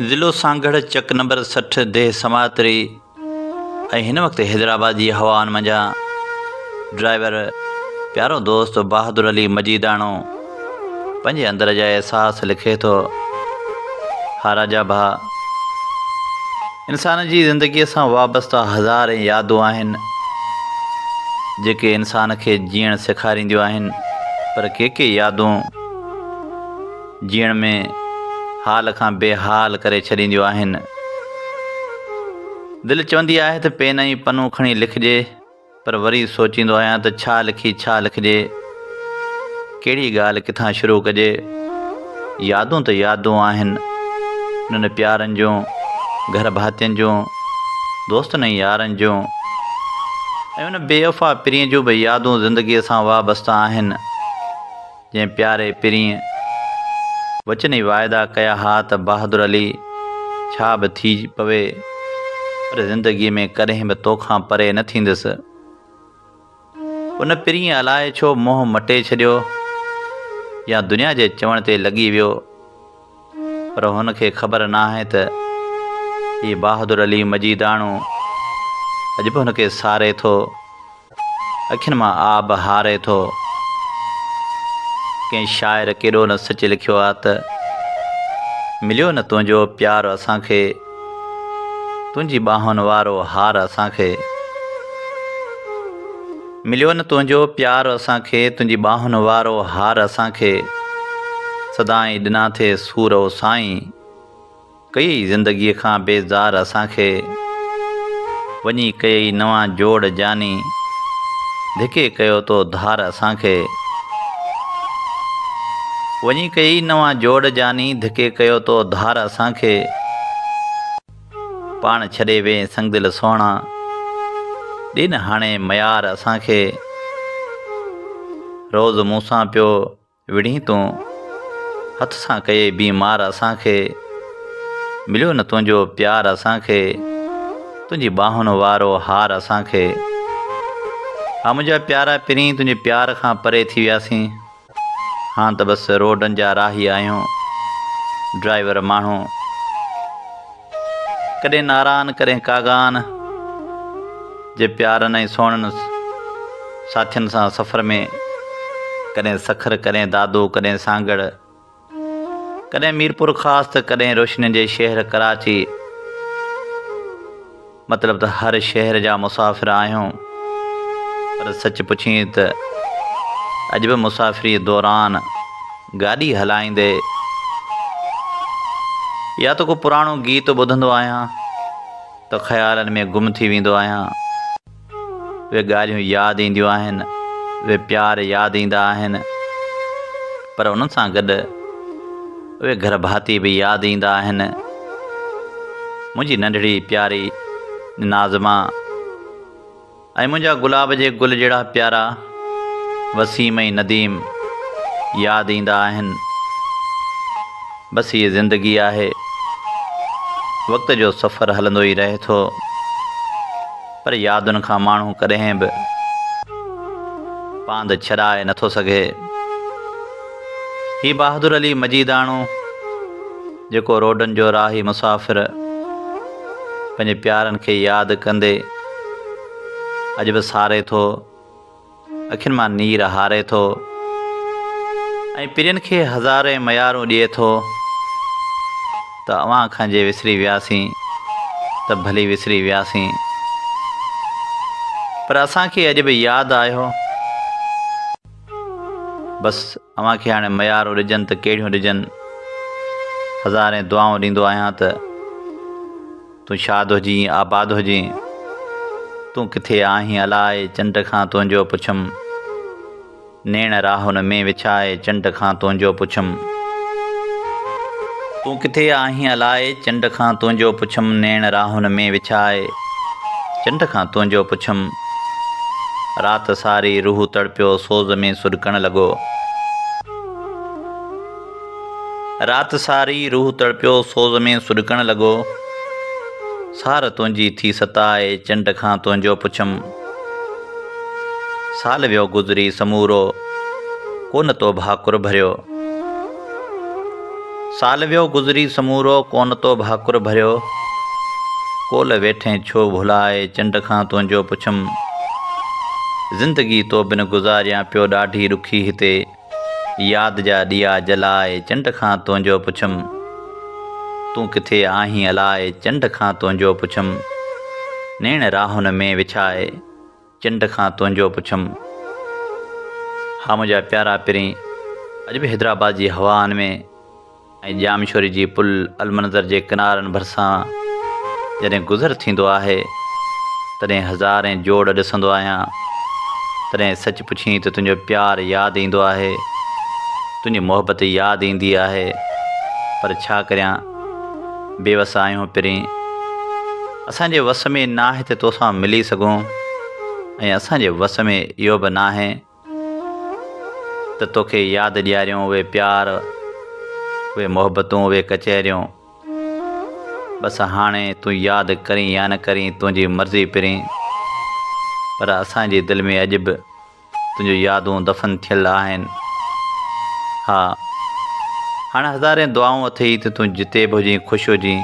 ضلعو سانگهڙ چڪ نمبر سٺ ديھ سماعتري ۽ هن وقت حيدرآباد جي هوائن منجهان ڊرائيور پيارو دوست بهادر علي مجيداڻو پنهنجي اندر جا احساس لکي ٿو ها راجا ڀا انسان جي زندگيء سان وابسته هزارين يادون آهن، جيڪي انسان کي جيئڻ سيکارينديون آهن، پر ڪي ڪي يادون جيئڻ ۾ حال کان بي حال ڪري ڇڏينديون آهن. دل چوندي آهي ته پين ۽ پنو کڻي لکجي. پر وري سوچيندو آهيان ته ڇا لکي ڇا لکجي، ڪهڙي ڳالهه ڪٿان شروع ڪجي. يادون ته يادون آهن، انهن پيارن جون، گهر ڀاتين جون، دوستن ۽ يارن جون ۽ ان بي وفا پرينء جون به يادون زندگيء سان وابسته آهن. جنهن پياري پرينء وچن ۽ واعدا ڪيا ها ته بهادر علي ڇا به ٿي پوي پر زندگيء ۾ ڪڏهن به توکان پري نه ٿيندس. ان پرينء الائي ڇو منهن مٽي ڇڏيو يا دنيا جي چوڻ تي لڳي ويو. پر هن کي خبر ناهي ته هي بهادر علي مجيداڻو اڄ به هن کي ساري ٿو، اکين مان آب هاري ٿو. ڪنهن شاعر ڪيڏو نه سچ لکيو آ ته، مليو نه تنهنجو پيار اسان کي، تنهنجي ٻانهن وارو هار اسان کي. مليو نه تنهنجو پيار اسان کي تنهنجي ٻانهن وارو هار اسان کي سدائين ڏنا ٿي سور او سائين ڪيئي زندگي کان بيزار اسان کي وڃي ڪيئي نوان جوڙ جاني ڌڪي ڪيو تو ڌار اسان کي وڃي ڪيئي نوان جوڙ جاني ڌڪي ڪيو تو ڌار اسان کي. پاڻ ڇڏي وين سنگدل سهڻا، ڏين هاڻي ميار اسان کي. روز مون سان پيو وڙهين تون، هٿ سان ڪيئي بي مار اسان کي. مليو نه تنهنجو پيار اسان کي، تنهنجي ٻانهن وارو هار اسان کي. ها منهنجا پيارا پرين تنهنجي پيار کان پري ٿي وياسين. هاڻ ته بس روڊن جا راهي آهيون. ڊرائيور ماڻهو ڪڏهن ناران ڪڏهن ڪاغان جي پيارن ۽ سهڻن ساٿين سان سفر ۾ ڪڏهن سکر ڪڏهن دادو ڪڏهن سانگهڙ ڪڏهن ميرپورخاص ته ڪڏهن روشنين جي شهر ڪراچي مطلب ته هر شهر جا مسافر آهيون پر سچ پڇين ته اڄ به مسافري دوران گاڏي هلائيندي يا ته ڪو پراڻو گيت ٻڌندو آهيان ته خيالن ۾ گم ٿي ويندو آهيان. اهي ڳالهيون ياد اينديون آهن، اهي پيار ياد ايندا آهن پر انهن سان گڏ اهي گهر ڀاتي به ياد ايندا آهن. منهنجي ننڍڙي پياري نازما ۽ منهنجا گلاب جي گل جهڙا پيارا وسيم ۽ نديم ياد ايندا آهن. بس هيء زندگي آهي، وقت جو سفر هلندو ئي رهي ٿو. پر يادن کان ماڻهو ڪڏهن به پاند ڇڏائي نه ٿو سگهي. هي بهادر علي مجيداڻو جيڪو روڊن جو راهي مسافر پنهنجي پيارن کي ياد ڪندي اڄ به ساري ٿو. اکين مان نير هاري ٿو ۽ پرين کي هزارين ميارون ڏئي ٿو ته اوهان کان جي وسري وياسين ته ڀلي وسري وياسين پر اسان کي اڄ به ياد آهيو بس اوهان کي هاڻي ميارون ڏجن ته ڪهڙيون ڏجن هزارين دعائون ڏيندو آهيان ته تون شاد هجين آباد هجين تون ڪٿي آهين الائي چنڊ کان تنهنجو پڇم نيڻ راهن ۾ وڇائي چنڊ کان تنهنجو پڇم تون ڪٿي آهين الائي چنڊ کان تنهنجو پڇم نيڻ راهن ۾ وڇائي چنڊ کان تنهنجو پڇم رات ساري روح تڙپيو سوز ۾ سڏڪڻ لڳو. رات ساري روح تڙپيو سوز ۾ سڏڪڻ لڳو سار تنهنجي ٿي ستائي چنڊ کان تنهنجو پڇم سال ويو گذري سمورو ڪونه تو ڀاڪر ڀريو سال ويو گذري سمورو ڪونه تو ڀاڪر ڀريو ڪول ويٺين ڇو ڀلائي چنڊ کان تنهنجو پڇم زندگي تو بن گذاريان پيو ڏاڍي ڏکي هتي ياد جا ڏيئا جلائي چنڊ کان تنهنجو پڇم تون ڪٿي آهين الائي چنڊ کان تنهنجو پڇم نيڻ راهن ۾ وڇائي چنڊ کان تنهنجو پڇم ها منهنجا پيارا پرين اڄ به حيدرآباد جي هوائن ۾ ۽ ڄامشوري جي پل المنظر جي ڪنارن ڀرسان جڏهن گذر ٿيندو آهي تڏهن هزارين جوڙ ڏسندو آهيان تڏهن سچ پڇين ته تنهنجو پيار ياد ايندو آهي تنهنجي محبت ياد ايندي آهي پر ڇا ڪريان بيوس آهيون پرين اسان جي وس ۾ ناهي ته توسان ملي سگهون ۽ اسان جي وس ۾ اهو به ناهي ته توکي ياد ڏياريون اهي پيار اهي محبتون اهي ڪچهريون بس هاڻي تون ياد ڪرين يا نه ڪرين تنهنجي مرضي پرين پر اسان جي دل ۾ اڄ به تنهنجون يادون دفن ٿيل آهن ها هاڻ هزارين دعائون اٿئي ته تون جتي به هجين خوش هجين.